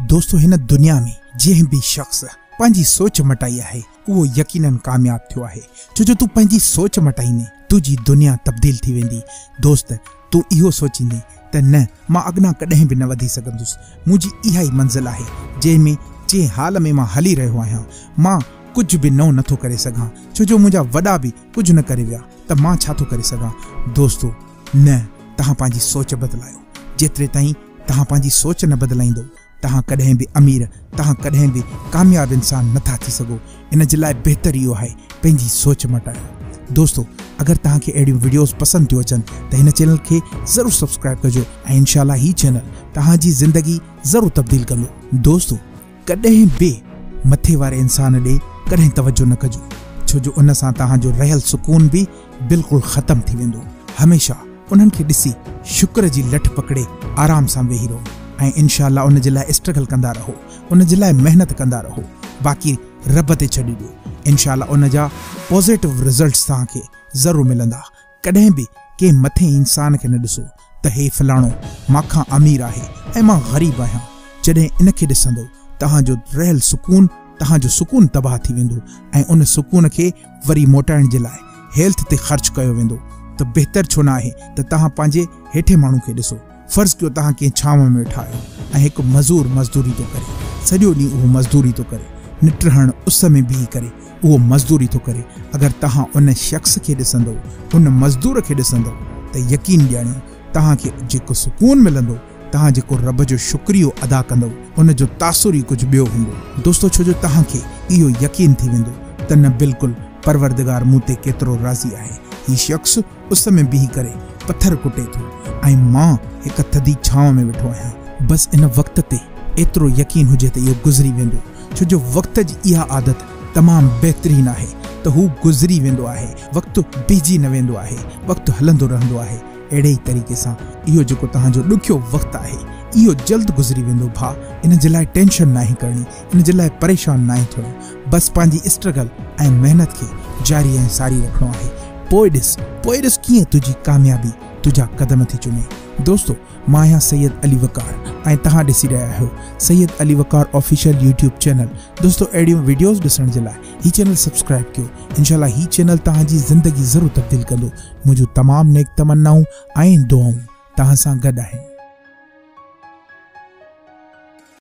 دوستو هن دنيا ۾ جنهن به شخص پنهنجي سوچ مٽائي آهي اهو يقينن ڪامياب ٿيو آهي ڇو جو تون پنهنجي سوچ مٽائيندين تنهنجي دنيا تبديل ٿي ويندي دوست تون اهو سوچيندين ته نه مان اڳنا ڪڏهن به نه وڌي سگهندس منهنجي اها ئي منزل آهي جنهن ۾ جنهن حال ۾ مان هلي رهيو آهيان مان ڪجهه به نئون نٿو ڪري سگهان ڇو جو منهنجا وڏا به ڪجهه نه ڪري ويا ته مان ڇا ٿو ڪري سگهان دوستو نه، توهان پنهنجي سوچ بدلايو. جيتري تائين توهان پنهنجي سوچ نه بدلائيندو، توهان ڪڏهن به امير، توهان ڪڏهن به ڪامياب انسان نه ٿا ٿي سگهو. ان جي لاء بهتر اهو آهي پنهنجي سوچ مٽايو. دوستو اگر توهان کي اهڙيون وڊيوز پسند ٿيون اچن ته هن چينل کي ضرور سبسڪرائب ڪجو ۽ انشاء الله هي چينل توهان جي زندگي ضرور تبديل ڪندو. دوستو! ڪڏهن به مٿي واري انسان ڏي ڪڏهن توجه نه ڪجو ڇو جو ان سان توهان جو رهيل سڪون به بلڪل ختم ٿي ويندو هميشه انهن کي ڏسي شڪر جي لٺ پڪڙي آرام سان ويهي رهو ۽ انشاء الله ان جي لاء اسٽرگل ڪندا رهو ان جي لاء محنت ڪندا رهو باقي رب تي ڇڏي ڏيو انشاء الله ان جا پوزيٽو رزلٽس توهان کي ضرور ملندا. ڪڏهن به ڪنهن مٿين انسان کي نه ڏسو ته هي فلاڻو مان کان امير آهي ۽ مان غريب آهيان، جڏهن ان کي ڏسندو توهان جو رهيل سڪون توهان جو سڪون تباهه ٿي ويندو ۽ ان سڪون کي وري موٽائڻ جي لاء هيلٿ تي خرچ ڪيو ويندو ته بهتر ڇو نه آهي ته توهان پنهنجي هيٺين ماڻهو کي ڏسو. فرض ڪيو توهان ڪنهن ڇانو ۾ ويٺا آهيو ۽ هڪ مزور مزدوري ٿو ڪري. سڄو ڏينهن اهو مزدوري ٿو ڪري. نٽ هڻ اس ۾ بيهي ڪري اهو مزدوري ٿو ڪري. اگر توهان ان شخص کي ڏسندؤ، ان مزدور کي ڏسندؤ ته يقين ڄاڻيو توهان کي جيڪو سڪون ملندو، توهان جيڪو رب جو شڪريو ادا ڪندؤ ان جو تاثر ئي ڪجهه ٻيو هوندو. دوستو ڇو جو توهان کي اهو يقين ٿي ويندو ته نه بلڪل پروردگار مون تي ڪيترو راضي آهي. هي شخص اس ۾ بيهي ڪري پٿر ڪٽي ٿو ۽ مان هڪ ٿڌي ڇانو ۾ ويٺو آهيان. بس ان وقت تي ايترو يقين هجي ته اهو گذري ويندو، ڇو جو وقت جي اها عادت تمام بهترين آهي ته هو گذري ويندو آهي، وقت بيهجي نه ويندو آهي، وقت هلندو رهندو آهي. اهڙي ئي طريقي سان اهو جيڪو توهان جو ڏکيو وقت آهي، اهو جلد گذري ويندو ڀاء، ان جي لاء ٽينشن ناهي ڪرڻي. ان جي لاء پريشان ناهي ٿيڻو بس پنهنجي اسٽرگل ۽ محنت کي جاري ۽ ساري رکڻو آهي پوء ڏس پوء ڏس ڪيئن تنهنجي ڪاميابي تنهنجا قدم ٿي چمي دوستو مان آهيان سيد علي وقار ۽ توهان ڏسي رهيا آهيو Syed Ali Waqar official YouTube channel دوستو اهڙيون ويڊيوز ڏسڻ جي لاء هي چينل سبسڪرائب ڪيو انشاء الله هي چينل توهان جي زندگي ضرور تبديل ڪندو منهنجون تمام نيڪ تمنائون ۽ دعائون توهان سان گڏ آهن.